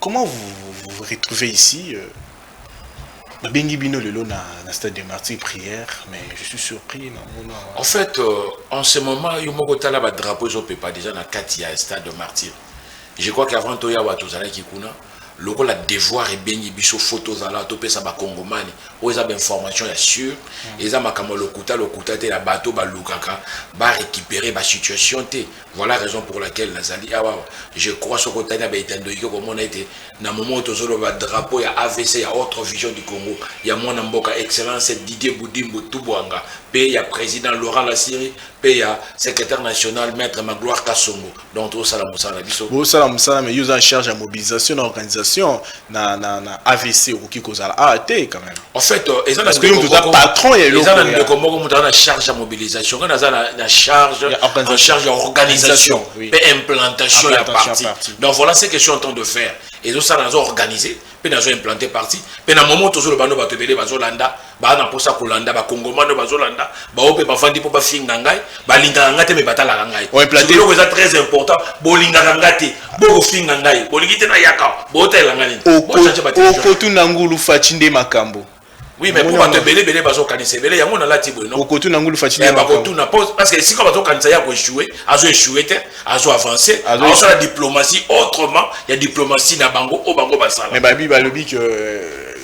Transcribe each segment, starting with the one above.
Comment vous vous, vous retrouvez ici euh, Babengi bino lelo na, na stade de martyr prière, mais je suis surpris na mona. En fait, euh, en ce moment, yo moko tala ba drapeaux ezo pepa déjà na kati ya stade de martyr. Je crois qu'avant to yawa tozalaki kuna lokola devoir ebengi biso fo tozala topesa bakongomani oyo eza bainformation ya sur eza makambo ya lokuta lokuta te ya bato balukaka barécupere basituation te Voilà raison pour laquelle nazali awa awa. Je crois soko otali na baetando ike komona ete na moment oyo tozoloba drapeau ya AVC ya autre vision du Congo ya mwana mboka excellence Didier Budimbu Tubwanga pe ya président Laurent Lasiri pe ya secrétaire national maître Magloire Kasongo donc tozosala mosala na biso Bosala mosala mais yo oza en charge ya mobilisation na organisation na na na avc okoki kozala awa ah, te quand même en fait euh, eza na ndeko patron ya eza na ndeko moko moto na charge ya mobilisation nga naza na charge en charge ya organisation pe implantation ya parti donc voilà ce que je suis en train de faire ezo sala nazo organiser pe nazo implanter parti pe na moment tozo loba no bato ebele bazo landa ba na posa kolanda ba kongomano bazolanda baoyo mpe bavandi mpo bafinga ngai balingaka ngai te me batalaka ngai eloko eza très important bolingaka ngai te bokofinga ngai bolingi te nayaka botalela ngai niniokotuna ngulu faci nde makambo oui mais mpo bato ebele ebele bazokanisa ebele yango nalati boye nokotuna ngulu faci eh, bakotuna parce que esika bazokanisa ya koechoue azo echoue te azo avance azosala diplomatie autrement ya diplomatie na bango oyo bango basala mais babi balobi que euh,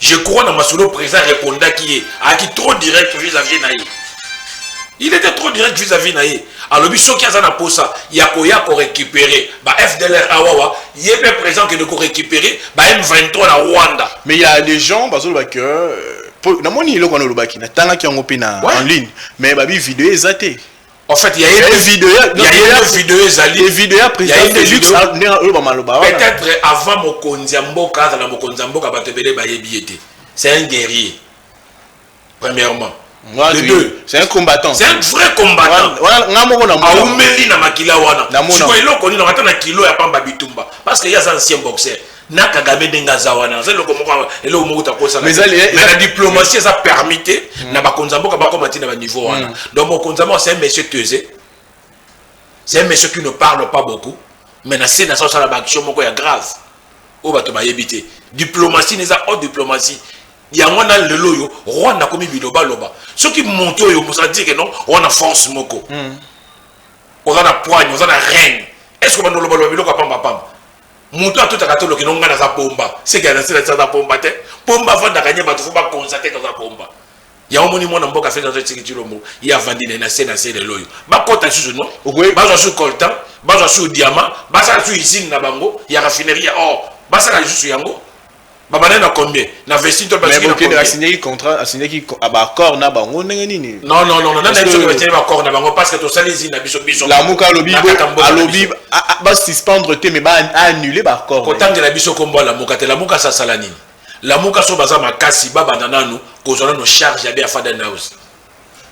je crois na masolo président arepondaki ye ayaki trop direct vis-à-vis na ye il était trop direct vis-à-vis na ye alobi soki aza na mposa ya koya korécupere ba fdlr awawa ye mpe président kende korécupere ba m23 na rwanda mais ya des gens bazoloba que euh, namoni eloko wana olobaki natangaki yango mpe na en ligne mais babi video eza te En fait, il y a une vidéo, il y a une vidéo ezali. Et vidéo ya président Felix ndenge oyo ba maloba wana. Peut-être avant mokonzi ya mboka azala mokonzi ya mboka bato ebele bayebi ye te. C'est un guerrier. Premièrement. Moi, le deux. C'est un combattant. C'est un vrai combattant. Voilà, nga moko na mona. Aumeli na makila wana. Siko eloko ni na ata na kilo ya pamba bitumba parce que ya ancien boxeur. na kagame ndenge aza wana aza eloko moko eloko moko takosala mais la diplomatie eza permis te mm. na bakonzi ya mboka bakoma ti na baniveau wana mm. donc mokonzi ya mboka c'est un monsieur tese c'est un monsieur qui ne parle pas beaucoup mais na se na sa osala baaction moko ya grave oyo bato bayebi te diplomatie na eza haute diplomatie yango wana lelo oyo rwanda akomi bilobaloba soki moto oyo mosala dire non oza na force moko mm. oza na poigne oza na reine est ce que bandolobaloba biloko ya pambapamba moto atutaka toloki no ngai naza pomba seke anasila ti aza pomba te pomba afandaka nye bato fo bakonza te toza pomba yango moni mwana mboka feti azo tiki cilombo ye avandi naye na se na se lelo oyo bakota susu no bazwa su coltan bazwa su diama basala su usine na bango ya raffinerie ya or basala lisusu yango Babandaki na combien Na vesti to Mais Bokende a signé contrat, a signé ki ba accord na bango ndenge nini Non non non, nani ayebi ba signé ba accord na bango parce que to sali zina biso biso. La muka alobi bo alobi ba suspendre te mais ba annuler ba accord. Ko tangela biso kombo la muka te, la muka sa sala nini La muka so baza makasi ba banda nanu ko zona no charge ya be afada house.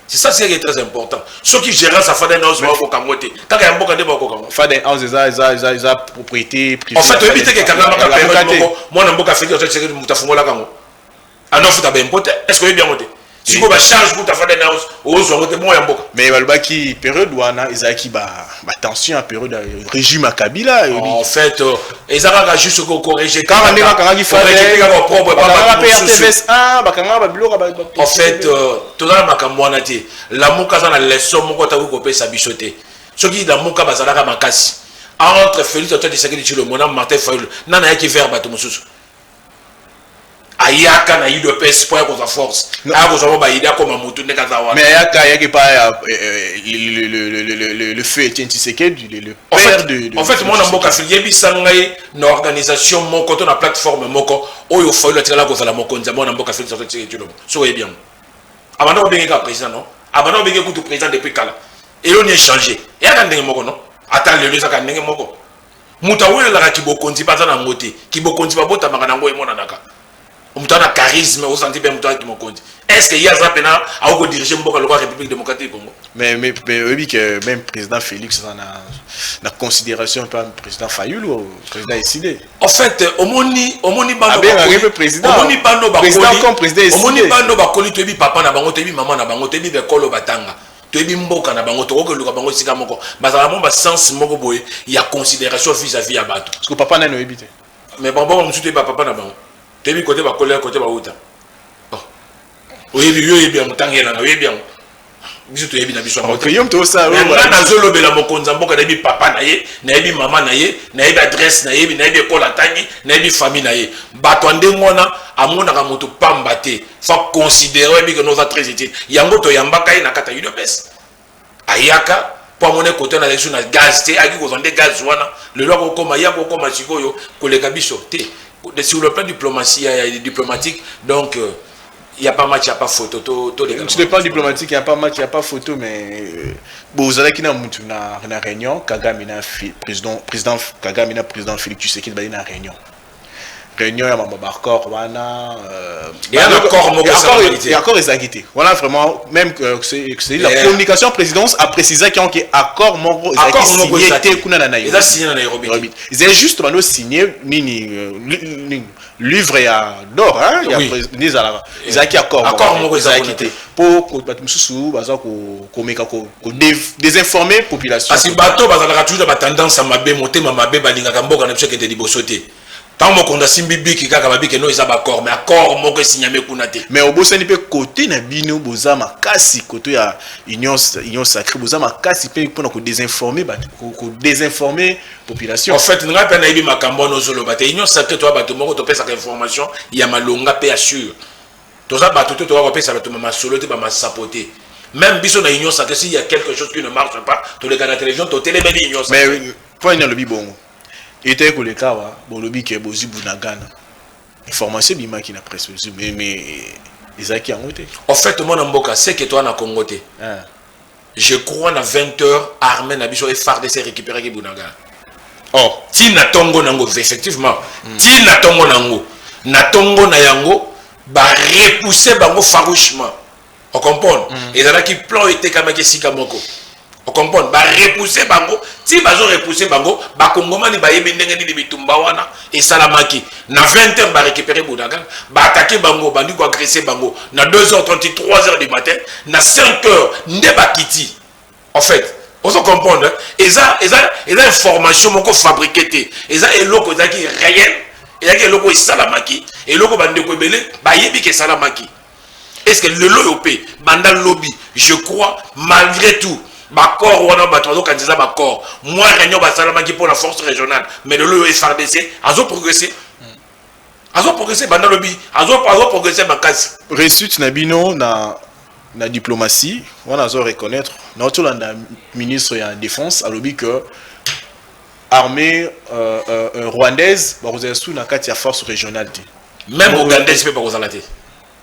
C'est ça c'est très important. Ceux qui gèrent sa Faden House va koka ngote. Kaka ya mboka nde ba koka ngote. Faden House eza eza eza eza propriété privée. En fait, oyebi te ke kanga maka période moko mwana mboka feki ozo tseke muta fungola kango. Ana futa ba impote. Est-ce que oyebi yango te? Siko ba charge kuta Faden House ozo ngote mwa ya mboka. Mais balobaki période wana ezalaki ba ba tension ya periode ya régime ya kabila en fait euh, eza kaka juste ko corriger kaka ndenge bakangaki fkaka propre prs 1 bakangaka babiloko en fait euh, toza na makambo wana te lamuka aza na leçon moko ataki kopesa biso te soki lamuka bazalaka makasi entre félix antoine tshisekedi tshilombo na martin fayulu nani ayaki vers bato mosusu ayaka na udps mpo ya kozwa force aya kozwa mpo bayede akoma motu ndenge aza wana mais ayaka ayaki pa ya le feu etien tisekedi le père de en fait mwana mboka yebisa ngai na organisation moko to na plateforme moko oyo fayulu atikala kozala mokonzi ya mwana mboka felix antoine tisekedi tshilombo soki oyebi yango abanda kobenge kaka président non abanda kobenge kutu président depuis kala eloni echange eyaka ndenge moko non ata lelo ezaka ndenge moko moto awelelaka kibokonzi baza na yango te kibokonzi babotamaka na yango emonanaka moto ana charisme osanti mpe moto ana kimokonzi est ce que ye aza mpena akoki kodirige mboka lokola république démocratique congo mais mais mais oyebi que même président félix aza na na considération mpe président fayulu oh, président eside en fait omoni omoni banoabengaki mpe présidentomoni bano bakoli omoni bano bakoli toyebi papa na bango toyebi mama na bango toyebi bekolo batanga toyebi mboka na bango tokoki koluka bango esika moko bazala mwa basense moko boye ya considération vis à vis ya bato parceke papa nani oyebi te mais bango mosusu toyebi bapapa na bango toyebi kote bakolela kote bauta oh. oyebi yo oyebi yango ntango elanga oyebi yango biso toyebi na biso nga nazolobela mokonzi ya mboka nayebi papa na ye nayebi mama na ye nayebi adresse nayebi nayebi ekolo atangi nayebi famille na ye bato ya ndenge wana amonaka moto pamba te fa considere oyebi ke noza très utile yango toyambaka ye na kata udps ayaka mpo amona ekote na yesu na gaz te ayaki kozwa nde gaz wana lelo akokoma ye akokoma sikoyo koleka biso te sur le plan diplomatie ya diplomatique donc euh, il n'y a pas match, il n'y a pas photo. To, to les Sur le plan diplomatique, il n'y a pas match, il n'y a pas photo, mais euh, bon, vous allez dans la réunion, Kagame, président, président, Kagame, président Félix Tshisekedi, dans la réunion. réunion ya mambo bacor wana accord ezalaki te wana vraiment même euh, c'est la communication présidence a précisé que ke accord moko ezalaki signé te kuna na nairobi ezali juste bando signé nini euh, livre ya dor nde ezalaka ezalaki accord moko ezalaki te mpo bato mosusu baza komeka ko ko desinformer population kasi bato bazalaka toujours na batendance ya mabe motema mabe balingaka mboka na biso ekende liboso te ntango mokonzi asimbi biki kaka babike no eza bacor mais acor moko esinyame kuna te mais obosani mpe kote na bino boza makasi koto ya union, union sacré boza makasi mpe mpona kodesinforme bato kodesinforme population en fait ngai mpe nayebi makambo wana ozoloba te union sacré toya bato moko topesaka information ya malonga mpe ya sure toza bato te tokoka kopesa bato ba masolo te bamasapo te meme biso na union sacre s'il y a quelque chose qui ne marche pas toleka na télévision totelemeli union sacre mpo nini alobi bongo etali koleka awa bolobi ke bozwi bunagana information ebimaki na presse bozwi mais ezalaki yango te en fait mwana mboka seke toa na congo te ah. Je crois na 20 heures armée na biso FARDC récupéraki Bunagana. Oh, ti na tongo nango effectivement. Mm. Ti na tongo nango. Na tongo na yango ba repousser bango farouchement. On comprend? Mm. Ezalaki plan etekamaki esika moko. On comprend? Ba repousser bango, ti bazo repousser bango, ba kongomani ba yebi ndenge nini bitumba wana, esalamaki na 20 heures barécupere bodagan baatake bango bandi koagrese bango na 2 heures 30 3 heures du matin na 5 heures nde bakiti en fait ozo comprendre eza eza eza information moko fabriqué te eza eloko ezalaki réel ezalaki eloko esalamaki eloko bandeko ebele bayebi ke esalamaki est ce que lelo oyo mpe banda lobi je crois malgré tout bacor wana bato bazokanisa eza bacor mwa réunion basalamaki mpo na force régionale mais lelo oyo frdc azoprogresse azoprogresse banda lobi azoprogresse makasi réussite na bino na na diplomatie wana azo reconnaître na otolanda ministre ya défense alobi que armée euh, euh, euh rwandaise bakozala sous na kati ya force régionale te Même ougandaise peut pas vous arrêter.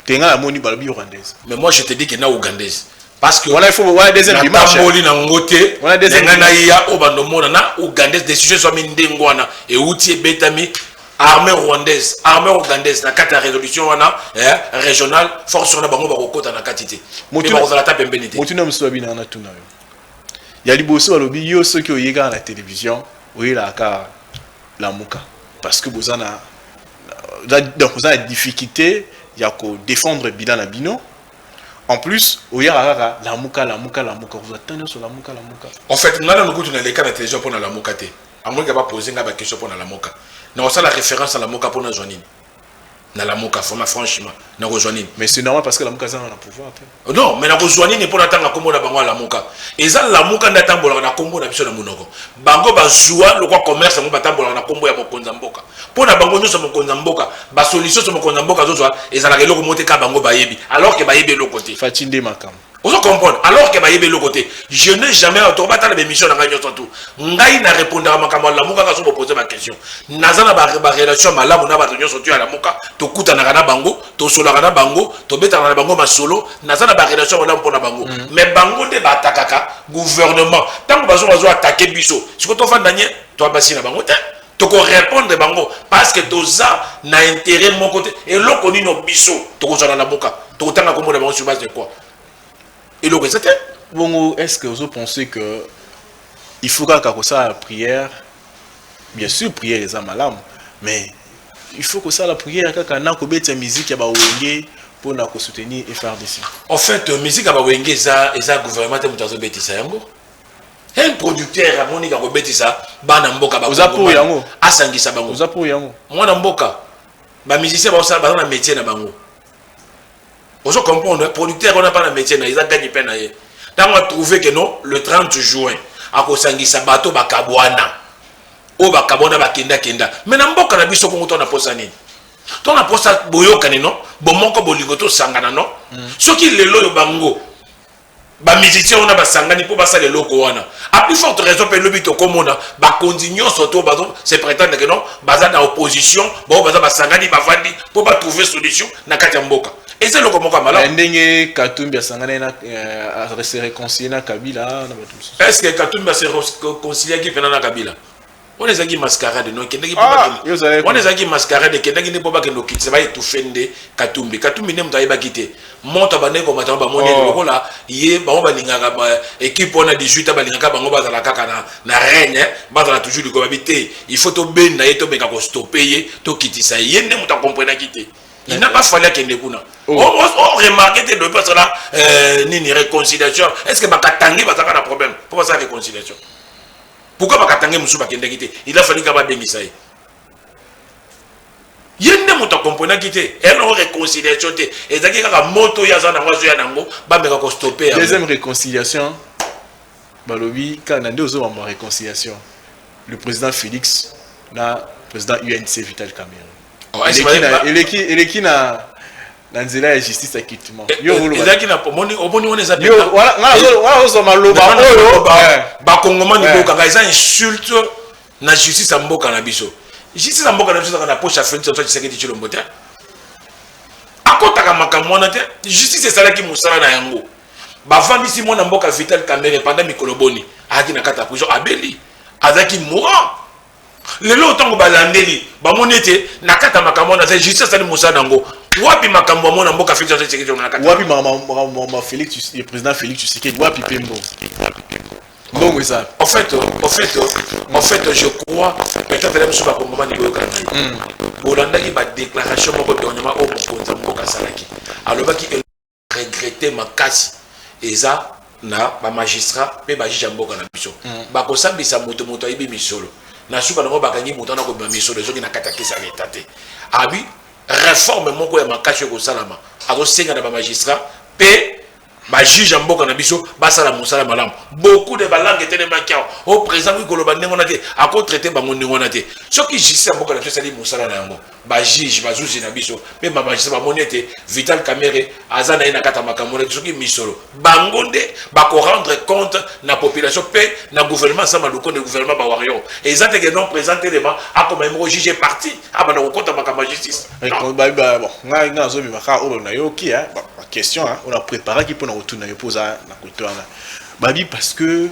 Tenga la moni balobi ougandaise. Mais moi je te dis que na ougandaise. Parce que voilà il faut voilà deuxième dimanche. Na moli na ngote. Voilà deuxième. Tenga na ya obando mona na ougandaise décision soit mi ndengwana et outi betami armée rwandaise armée ougandaise na kati ya résolution wana eh, régionale force wana bango bakokota na kati te bakozala ta pembeni te motuna mosusu babina wana tuna yo ya liboso balobi yo soki oyekaka na télévision oyelaka Lamuka parce que boza na donc oza na difficulte ya ko defendre bilan na bino en plus oyaka kaka lamuka lamuka lamuka kozwa ntango nyonso lamuka lamuka en fait ngai nano kutu naleka na télévision mpo na lamuka te angoika bapoze ngai bakestion mpo na lamuka na kosala référence na lamuka mpo nazwa nini na lamuka vraiment franchement nakozwa nini mais c'est normal parce que lamuka azanga na pouvoir te oh non mais nakozwa nini mpo natanga nkombo na bango alamuka eza lamuka nde atambolaka na nkombo na biso na monoko bango bazwa lokwa commerce yango batambolaka na nkombo ya mokonzi ya mboka mpo na bango nyonso mokonzi ya mboka basolution nyonso mokonzi ya mboka azozwa ezalaka eloko moko te kaka bango bayebi alors ke bayebi eloko te faci nde makambo ozo comprendre alors que bayebi eloko te je n'ai jamais auto batala bémission na ngai nyonso tout ngai na répondaka makambo ya lamuka kaka so bopose baquestion naza na barelation malamu na bato nyonso to ya lamuka tokutanaka na bango tosolaka na bango tobetaka na bango masolo naza na barelation malamu mpo na bango mm. mais bango nde baatakaka gouvernement ntango bazo bazo atake biso siko tofanda nye toabasi na bango te toko repondre bango parce que toza na intérêt moko te eloko nino biso tokozwa na lamuka tokotanga kombo na bango sur base de quoi eloko eza te bongo est ce que ozo penser que il faut kaka kosala prière bien sûr prière eza malamu mais il faut kosala prière kaka na kobeta miziki ya bawenge mpo na kosoutenir frdc en fait miziki ya bawenge eza eza gouvernement te moto azobetisa yango Hein producteur amoni kako betisa bana mboka ba Oza pour yango asangisa bango Oza pour yango mwana mboka ba musiciens ba sala ba métier na bango Ozo comprendre hein? producteur on a pas na métier na eza gagne peine na ye tango a trouver que non le 30 juin akosangisa bato bakabwana oyo bakabwana bakenda kenda me na mboka na biso kongo to na posa nini to na posa boyokani no bomoko bolingo tosangana no mm. soki lelo oyo bango Ba musiciens wana basangani mpo basala eloko wana. A plus forte raison mpe lobi tokomona bakonzi nyonso to bazo se pretendre que non baza na opposition bao baza basangani bavandi mpo ba trouver solution na kati ya mboka. Eza eloko moko ya malamu. Eh, ndenge Katumbi asangani na eh, se réconcilier na Kabila na bato mosusu. Est-ce que Katumbi se réconciliaki mpe na Kabila? wana ezalaki mascarade no ekendaki ah, wana ezalaki mascarade ekendaki nde mpo bakende kokitisa baetufe nde katumbi katumbi nde moto ayebaki te moto abandaki komatama bamoni oh. lokola ye bango balingaka ekipe wana 18 balingaka bango bazala kaka na, na reine eh. bazala toujours likolo babi te il faut tobenda ye tomeka kostope ye tokitisa ye ye nde moto akomprenaki te il n'a pas fallu akende kuna oh. oremarke te dope asala euh, nini réconciliation est ce que bakatangi bazalaka na problème mpo basala réconciliation pourquoi ba katangais musu ba kendaki te il a fallu ka ba bengisa ye ye nde moto akomprenaki te eloko réconciliation te ezalaki kaka moto oyo aza nango azoya nango bameka kostope deuxième réconciliation balobi kaka na nde ozomama réconciliation le président félix na président unc vital cameron eleki na na nzela ya justice ya cultivement eh, yo eh, ezalaki na omoni omoni wana eza yo wana eh, ozo maloba oyo ba kongomani boka nga eza insulte na justice ya mboka na biso justice ya mboka na biso ezaka na poche ya Felix Antoine Tshisekedi Tshilombo te akotaka makambo wana te justice esalaki mosala na yango bavandisi mwana mboka Vital Kamerhe pendant mikolo boni ayaki na kati ya prison abeli azalaki mourant lelo ntango balandeli bamoni ete na kati ya makambo wana te justice asali mosala na yango wapi makambo yango na mboka felix antoine tshisekedi na kati wapi makambo felix le président felix tshisekedi wapi mpe mbongo mbongo eza en fait en fait en fait je crois peut-être la mosusu bakongomani boyokana bolandaki badéclaration moko dernièrement oyo mokonzi ya mboka asalaki alobaki regretter makasi eza na ba magistrats pe ba juges ya mboka na biso mm. bakosambisa moto moto ayebi misolo na suka nango bakangi moto wana kobima misolo ezongi na kati ya kesi ya leta te abi reforme moko ya makasi oyo ekosalama azosenga na ba magistrats pe bajuge ya mboka na biso basala mosala malamu beaucoup de balangue etelemaki awa o oh, président koki koloba ndenge wana te akotraite bango ndenge wana te soki justice ya mboka na biso esali mosala na yango ba juge bazuzi na biso mpe bamajisa bamoni ete vital kamere aza na ye na kati ya makambo na soki misolo bango nde bakorendre compte na population mpe na gouvernement sama lukonde gouvernement bawario eza teke non présent telema akoma ye moko juge parti abanda kokota makambo ya justice ngai nazobimaka oyo nayoki question oyo napreparaki mpo na kotuna yo mpo oza na koto wana babi parce que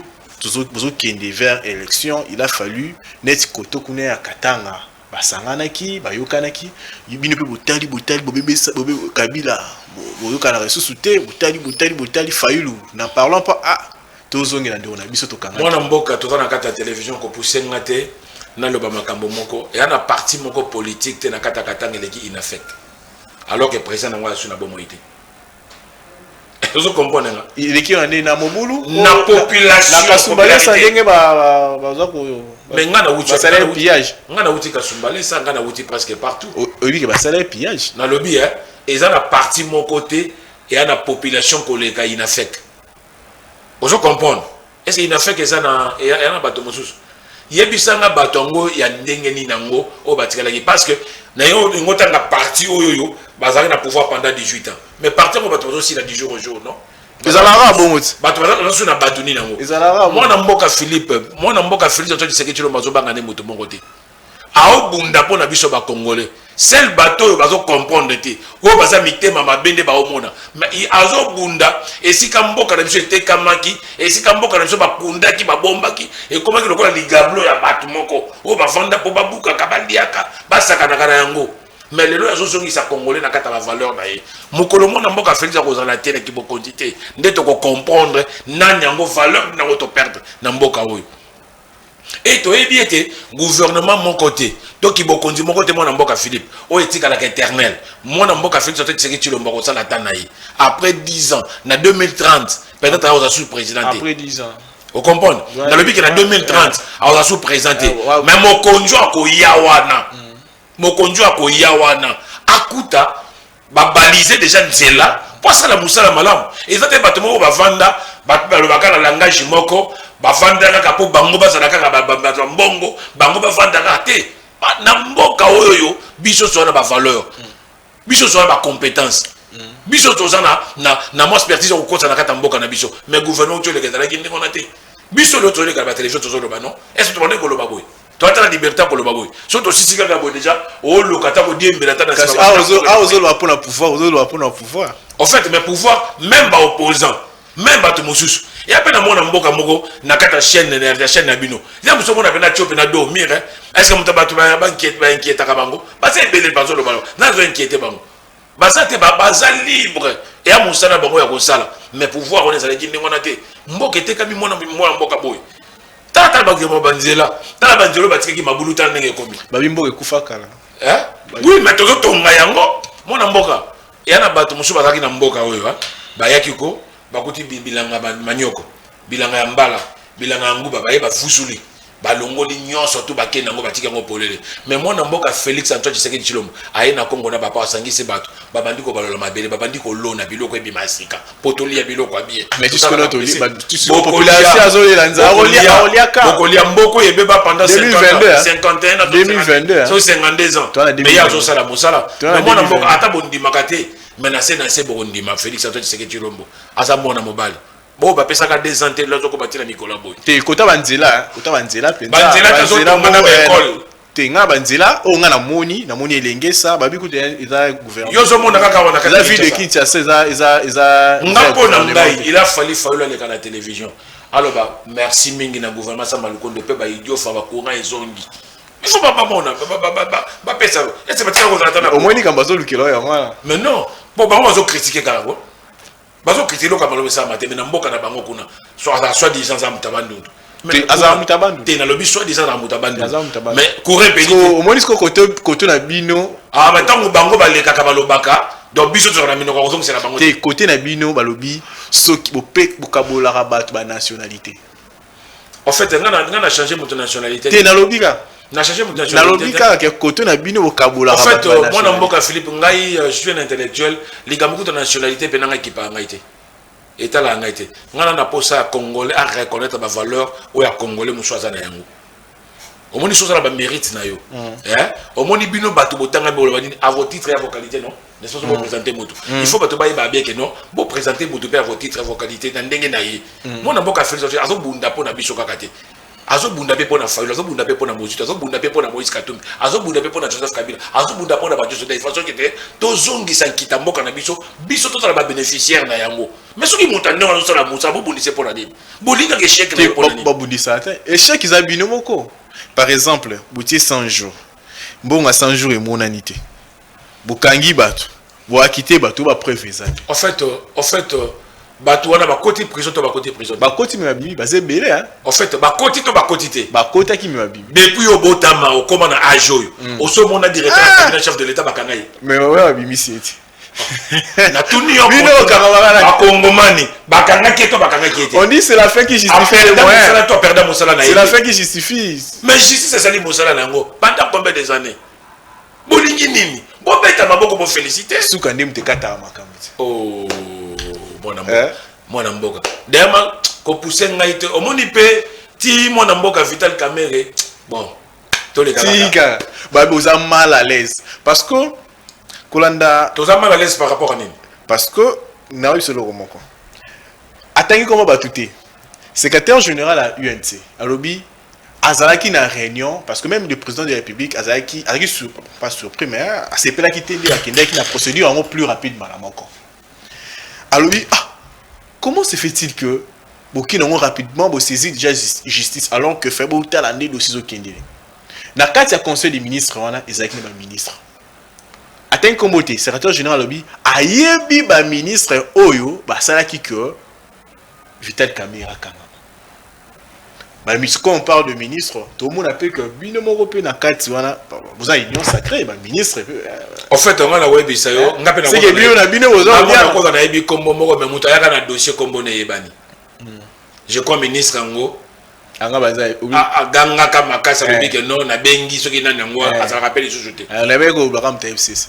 bozokende vers élection il a fallu neti koto kuna ya katanga Basanganaki, bayokanaki, bino pe botali botali bobebesa bobe Kabila boyokanaka lisusu te botali botali botali Fayulu n'en parlant pas ah tozongela ndeko na biso tokanga mwana mboka toza na kati ya television kopuse nga te naloba makambo moko eya na parti moko politique te na kati ya katanga eleki inafec alors que président na yango asu na bomoi te tozo comprendre nga eleki yo na nini na mobulu na population na kasumbalesa ndenge baza ko mais nga na wuti basala ye pillage nga na wuti kasumbalesa nga na wuti presque partout oyebi ke basala ye pillage nalobi eh eza na parti moko te eya na population koleka inafek ozo comprendre est ce inafek eza na eza na bato mosusu yebisa nga bato yango ya ndenge nini yango oyo batikalaki parce que na yo olingi otanga parti oyo oyo bazalaki na pouvoir pendant 18 ans mais parti yango bato bazosila du jour au jour non ezalaka bongo ti bato bazasu na bato nini yango mwana mboka philippe mwana mboka philippe oto liseke tshilombo azobanga nde moto moko te Ao bunda pona biso ba congolais seul bato oyo bazo comprendre te oyo baza mitema mabe nde bao mona mais azo bunda esika mboka na biso etekamaki esika mboka na biso ba kundaki ba bombaki ekomaki lokola ligablo ya bato moko oyo ba vanda po ba bukaka ba liaka ba sakanaka na yango mais lelo azo zongisa congolais na kata ba valeur na ye mokolo mona mboka Felix akozala te na kibokonzi te nde toko comprendre nani yango valeur na ngo to perdre na mboka oyo e toyebi ete gouvernement moko te to kibokonzi moko te mwana mboka philippe oyo etikalaka éternel mwana mboka félix ote tshisekedi tshilombo akosala ata na ye après 10 ans na 2030 peut-être aoza sous président te après 10 ans ocomprendre nalobi ke na 2030 aoza sous président te mais mokonzi oyo akoya wana mokonzi oyo akoya wana akuta ba balise dejà nzela po asala mosala malamu eza te bato moko bavanda bato balobaka na langage moko bavanda kaka po bango bazala kaka bato ya mbongo bango bavanda kaka te na mboka oyo yo biso toza na bavaleur biso toza na bacompétence biso toza na, na, na mwa expertise ya kokosa na kati ya mboka na biso mais gouvernement otyoleka ezalaki ndenge wana te biso leo tozoleka batelevision tozoloba non est ce tobandaki koloba boye to ata na liberté akoloba boye so tosisi kaka boye déjà oloka ata kodiembela ata naozoloba mpona pouvoir ozoloba mpona pouvoir en fait mais pouvoir même baopposant même bato mosusu ya mpe namona mboka moko na kati ya chaîne ya chaîne na bino ya mosu omona mpena tio mpena do mire eh? est ce que moto bato bainquietaka bango baza ebele bazoloba nazo inquiete bango baza te ba, baza libre eya mosala bango ya kosala mais pouvoir wana ezalaki ndenge wana te mboka etekami mwana mwana mboka boye tala tala bakema banzela tala banzela oyo batikaki mabulu tala ndenge ekomi babi mboka ekufa kala eh? oui mais tozotonga yango mwana mboka eya na bato mosusu bazalaki na mboka oyo bayaki ko bakuti bilanga manioko Bilanga ya mbala, bilanga ya nguba baye bavuzuli balongoli nyonso tu bakei nango batiki yango polele me mwana mboka felix antoine tshisekedi tshilombo aye na kongo na bapa asangisi bato babandi kobalola mabele babandi kolona biloko ebima ya sika mpo tolia biloko ya bie bokolia mboko ebeba panda 52 ans meye azosala mosala me mwana mboka ata bondimaka te me na se na se bokondima felix antoine tshisekedi tshilombo aza mwana mobali bo bapesaka deux ans te lelo tokoba ti na mikolo ya boye te kota banzela kota banzela mpenza banzela tazotonga na baekole te nga banzela oyo nga namoni namoni elengesa babi kutu eza gouvernement yo ozomona kaka wana eza ville de kinshasa eza eza eza nga mpo na ngai il a fallu fayulu aleka na télévision aloba merci mingi na gouvernement sa malukondo mpe baidiofa bacourant ezongi biso bamona bapesa ese batika kozala ta na omoni likambo azolukela oyo yango wana mais non mpo bango bazokritike kaka bazo kritike eloko ya malonga esalama te me na mboka na bango kuna azala soit disant aza moto ya bandundu azala moto ya bandundu te nalobi soit disant azala moto ya bandundu mais courant epeli omoni siko kote na bino ah, ntango bango balekaka balobaka donc biso tozala na minoko kozongisela bango te kote na bino balobi soki bokabolaka bato banationalité En fait, nga na nga na changer moto nationalité. Te nalobi ka. Na changer moto nationalité. Nalobi ka ke koto na bino bokabola. En fait, euh, mwana mboka Philippe ngai euh, je suis un intellectuel, likambo kuta nationalité pe na ngai kipa ngai te. Etala ngai te. Nga na posa ya congolais à reconnaître ba valeurs ou ya congolais musuaza na yango. omoni soza na ba mérite na yo mm. eh omoni bino bato botanga bolo banini à vos titres ya vos qualités non ne sozo bo mm. présenter moto mm. il faut bato baye ba bien que non bo présenter moto pe à vos titres ya vos qualités na ndenge na ye mona mboka Félix Antoine azo bunda pona biso kaka te azo bunda pe pona Fayulu azo bunda pe pona Mozito azo bunda pe pona Moïse Katumbi azo bunda pe pona Joseph Kabila azo bunda pona bato soda façon que te tozongisa nkita mboka na biso biso tozala ba bénéficiaire na yango mais soki moto ndenge azosala mosala bobundisa mpo na nini bolingaka echec na ye mpo na nini babundisa te echec eza bino moko par exemple botie 100 jours mbongo ya 100 jours emonani te bokangi bato boakite bato bapreuve eza te en fait euh, en fait euh, bato wana bakoti prison to bakoti prison bakoti me babimi baza ebele en fait bakoti to bakoti te bakotaki me babimi depuis obotama okoma na age oyo hmm. osomona directeur ya ah! cabinet chef de l'état bakanga ye mais oyo abimisi ete natuni yo bino okangaka na bakongomani bakangaki ye to bakangaki ye te on dit c'est la fin qui justifie le moyen mosala to aperda mosala na ye c'est la fin qui justifie mais justice ezali mosala na yango pendant combien des années bolingi nini bobeta maboko bofélicité suka nde moto ekataka makambo te oh, mwana mboka eh? mwana mboka dayama kopuse ngai te omoni mpe ti mwana mboka vital kamere bon tolekaka tika babe oza mal à l'aise parce que kolanda toza mal à l'aise par rapport à nini parce que nayebi biso eloko moko atangi koma bato te secrétaire général ya unc alobi azalaki na réunion parce que même le président de la république azalaki azalaki sur pas surpris mais asepelaki te nde akendaki na procédure yango plus rapidement na moko alobi ah comment se fait-il que boki nango rapidement bosaisit déjà justice alors que fai botala nde dossier ezokendele na kati ya conseil des ministres wana ezalaki na baministre atangi nkombo te secrétaire général alobi ayebi baministre oyo basalaki que Vital Kamerhe akangama. Ba mis quand on parle de ministre, tout le monde a que bino moko pe na kati wana vous avez union sacrée ba ministre pe. Euh, en fait on a ouais bisa yo eh, ngape na. C'est que bino na bino vous avez bien. Ko na yebi kombo moko mais muta yaka na dossier kombo na yebani. Hmm. Je crois ministre ngo anga baza agangaka makasi alobi ke non nabengi soki nani yango azalaka mpe lisusu te alobi ekoloba kaka moto ya fcc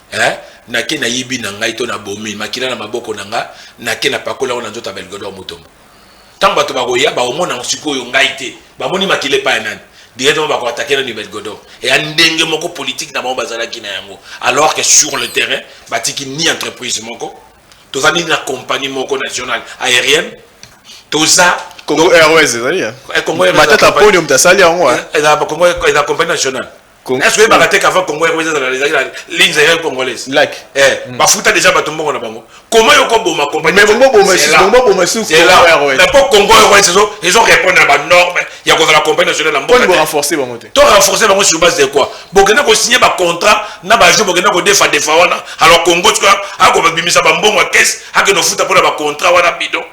eh, nake nayibi na ngai to nabomi makila na maboko na nga nake napakoli yango na nzoto ya belgodo mutombo ntango bato bakoya bakomona yango sikoyo ngai te bamoni makila epai ya nani directement bakoatake nani belgodo eya ndenge moko politike na bango bazalaki na yango alors que sur le terrain batiki ni entreprise moko toza nini na compagnie moko nationale aérienne toza congo airways ezali eh? eh, congo matata podium tasali yango eh? eza compagnie nationale Est-ce oyebaka te qu'avant Congo RDC ezala ezalaki na ligne zaire congolaise like eh mm. bafuta déjà bato mbongo na bango comment yoko boma compagnie mais bongo boma sisi bongo boma sisi c'est là mais pour Congo RDC ils ont ils ont répondu à ba norme ya ko la compagnie nationale na mbongo pour renforcer bango te to renforcer bango sur base de quoi bokenda ko signer ba contrat na ba jeu bokenda ko defa defa wana alors Congo tu vois ako babimisa ba mbongo à caisse akeno futa pour ba contrat wana bidon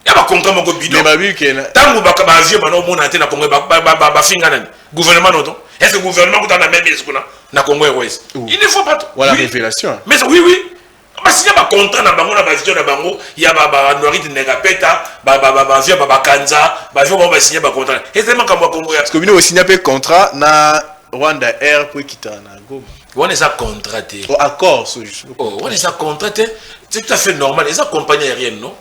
ya bakonka moko bidon ntango bavieux bana omona te na congo bafinga nani gouvernement noto est ce que gouvernement kuta na meme esi kuna na congo airways il ne faut pas voilà révélation mais oui oui basinya bacontra na bango na bavision na bango ya banoirite negapeta bavio babakanza bavio bango basinya bacontra ezali makambo ya congo parce que bino osinya mpe contrat na rwanda air mpo ekitana na goma wana eza contrat te oh, accord oh, wana eza contrat te c'est tout à fait normal eza compagnie aérienne non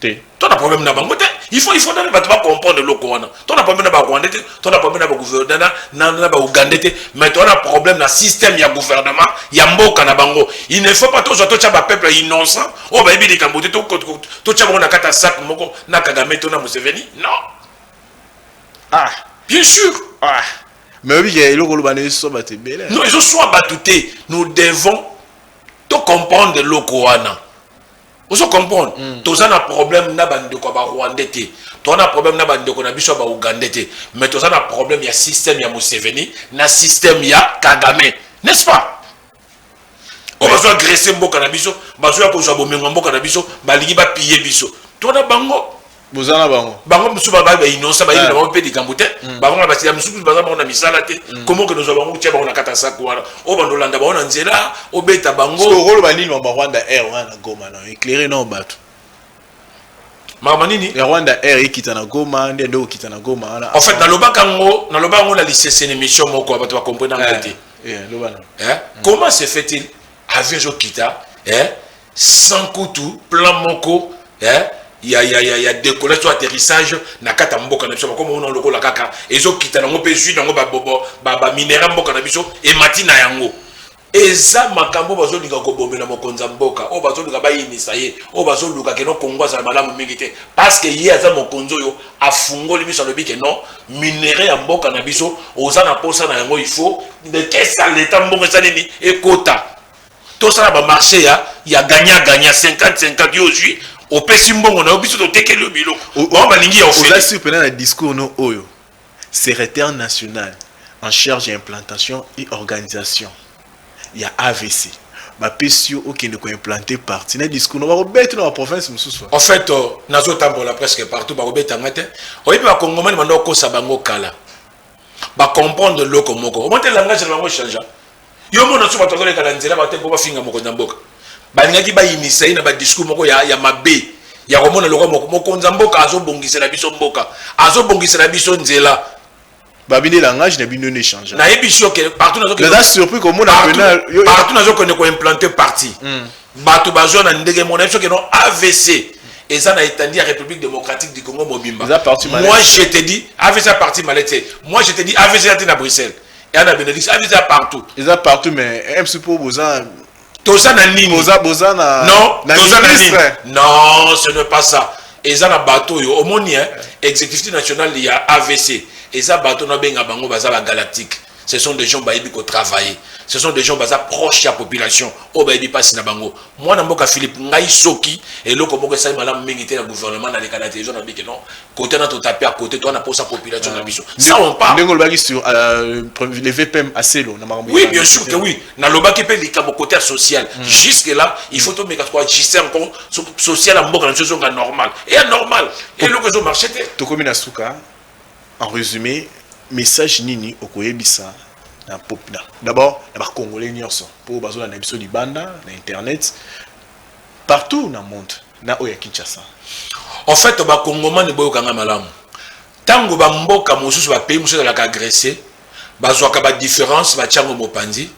te to na problème na bango te il faut il faut nani bato bacomprendre eloko wana to na problème na barwandais te to na problème na bagouvernement na baougandais te mais to na problème na système ya gouvernement ya mboka na bango il ne faut pas tozwa totya bapeuple innocent oyo bayebi likambo te totya bango na kati ya sak moko na kagame to na museveni non ah bien sûr ah mais oyebi ke eloko oloba na ezoswa bato ebele non ezoswa bato te nous devons tocomprendre eloko wana ozo comprendre mm. toza na problème na bandeko ya barwandais te toza na problème na bandeko na biso ya baougandais te mais toza na problème ya système ya museveni na système ya kagame n'est ce pas oyo bazo agresse mboka na biso bazo ya kozwa bomengo ya mboka na biso balingi bapiye biso tona bango boza na bango bango mosusu babali ba innocent bayebi na bango mpe likambo te bango na basila mosusu kutu baza bango na misala te komo okende ozwa bango otya bango na kata saku wana oyo bando olanda bango na nzela obeta bango okoloba nini mama rwanda air wana na goma na éclaire nao bato mama nini ya rwanda air ekita na goma nde nde okita na goma wana en fait nalobaka yango naloba yango na lisese na émission moko bato bakomprena yango te comment se fait-il avion ezokita eh? sans kutu plan moko eh? ya, ya, ya, ya décollage to atterrissage na kati ya mboka na biso bakoma ona lokola kaka ezokita nango mpe zwi nango baminera ba, ba mboka na biso emati na yango eza makambo oyo bazolinga kobomela mokonzi ya mboka oyo bazolinga bayinisa ye oyo bazoluka keno kongo azala malamu mingi te parce que ye aza mokonzi oyo afungoli miso alobi ke non minerais ya mboka na biso oza na posa na yango il faut de kesa leta mbongo eza nini ekota tosala bamarché ya ya gagna gagna 50 50 yo ozwi opesi mbongo na yo biso totekeli yo biloko bango balingi ya oza sur mpena na discours no oyo secrétaire national en charge ya implantation et organisation ya avc ba pesi yo okende ko implante parti na discours na bako beti na ba province mususu en fait euh, nazo tambola presque partout bako beta ngate oyebi ba congomani bando kosa bango kala ba comprendre loko moko omonte langage na bango change yo mona so bato bazoleka na nzela bate mpo bafinga mokonzi ya mboka balingaki bayinisa ye na badiscours moko ya, ya mabe ya komona lokwa moko mokonzi ya mboka azobongisela biso mboka azobongisela biso nzela babi nde langage na bino nde change nayebi sur que partout nazo naza surpris komona pena partout nazo kende ko implanter parti hmm. bato bazwa na ndenge mona yebi sur que non avc eza na etandi ya république démocratique du congo mobimba moi je te dis avc ya parti malete moi je te dis avc ya te na bruxelles eya na benelux avc ya partout eza partout mais mc po boza toza na nini boza boza na non toza na nini non ce n'est pas ça eza na bato oyo omoni hein exécutif national ya avc eza bato na benga bango baza ba galactique ce sont des gens bayebi ko travailler ce sont des gens baza proche ya population oyo bayebi mpasi na bango mwana mboka philippe ngai soki eloko moko esali malamu mingi te na gouvernement naleka na television na bike non Côté na to taper à côté toi na posa population na ah. biso. Ça on parle. Ndenge lobaki sur euh, les VPM à Selo na makambo. Oui, bien sûr que oui. Na lobaki pe likambo côté social. Hmm. Jusque là, il faut to meka quoi juste encore social en mboka na biso nga normal. Et normal. Et le réseau marché te. To komi na suka. En résumé, message nini okoyebisa na pop na. D'abord, na ba congolais nyonso po bazolanda biso libanda na internet partout na monde. na oyo ya Kinshasa. En fait ba congomani boyoka nga malamu tango ba mboka mosusu ba pays mosusu ezalaka agresse bazwaka ba difference batiango mopanzi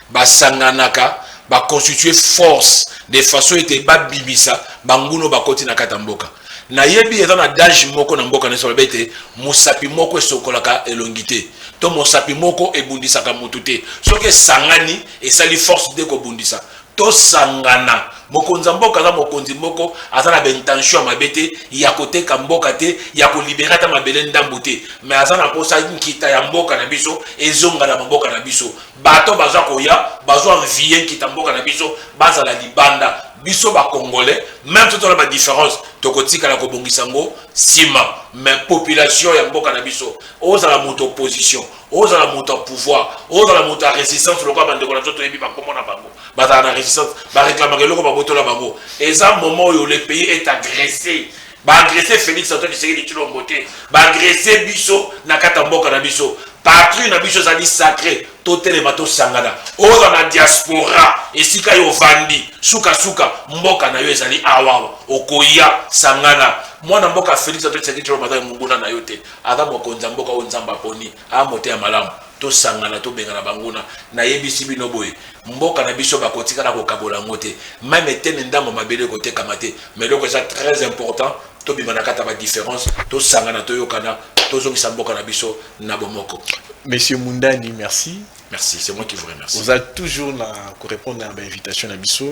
basanganaka ba constitue force de façon ete babimisa banguna bakoti na kati ya mboka nayebi eza na dage moko na mboka nyonso balobi ete mosapi moko esokolaka elongi te to mosapi moko ebundisaka motu te soki esangani esali force de kobundisa Tosangana. Mokonzi ya mboka aza mokonzi moko aza na ba intention ya mabe te, ya koteka mboka te, ya ko libere ata mabele ndambu te mais aza na posa nkita ya mboka na biso ezonga na mboka na biso. Bato baza koya bazo envier nkita mboka na biso bazala libanda. Biso ba congolais meme soki toza na ba difference tokotikala kobongisa yango sima mais population ya mboka na biso ozala moto opposition, ozala moto ya pouvoir ozala moto ya resistance lokola bandeko na biso toyebi bakombo na bango bazala na resistance bareklamaka eloko babotola bango eza moment oyo le pays est agressé baagrese félix antoine tshisekedi tshilombo te baagrese biso na kati ya mboka na biso patrie na biso ezali sacré totelema tosangana oza na diaspora esika yo ovandi sukasuka mboka na yo ezali awawa okoya sangana mwana mboka félix antoine tshisekedi tshilombo azali monguna na yo te Aza mokonzi ya mboka oyo Nzambe aponi, aa moteya malamu, tosangana tobengana banguna, nayebisi bino boye, mboka na biso bakotikala kokabola yango te, meme eteni ndambo ya mabele ekotekama te, mais eloko eza très important, tobima na kati ya ba differences, tosangana, toyokana, tozongisa mboka na biso na bomoko. Monsieur Mundani, merci. Merci, c'est moi qui vous remercie. Oza toujours na ko repondre na ba invitations na biso.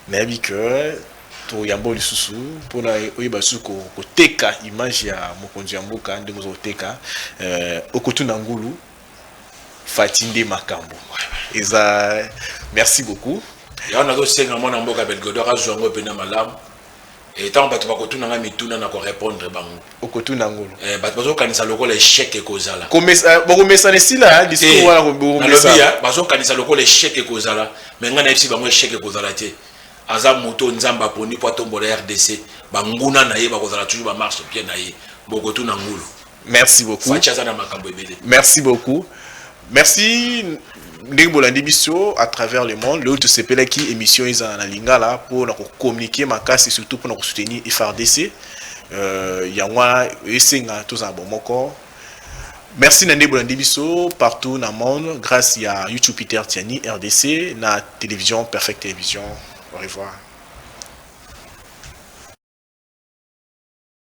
Nayebi que toyambo lisusu pona oyeba lisusu ko koteka image ya mokonzi ya mboka ndenge ozo koteka euh, okotuna ngulu fati nde makambo eza merci beaucoup yango nazosenga mwana mboka belgodo akazwa yango mpena malamu Et tant bato bakotuna nga mituna na ko répondre bango. Okotuna ngolo. Eh bato bazokanisa lokola échec ekozala. Komesa eh, bokomesana esila ya eh, discours wana bokomesa. Nalobi ya bazokanisa lokola échec ekozala mais nga nayebisi bango échec ekozala te. Aza moto Nzambe aponi mpo atombola RDC. Banguna na ye bakozala toujours ba marche pied na ye. Bokotuna ngulu. Merci beaucoup. Fatshi aza na makambo ebele. Merci beaucoup. Merci ndenge bolandi biso à travers le monde lelo tosepelaki émission ezala na lingala mpo na kocommunike makasi surtout mpo na kosoutenir frdc euh, yango wana esenga tozala bomoko merci na nde bolandi biso partout na monde grâce ya youtube peter tiani rdc na télévision perfect télévision au revoir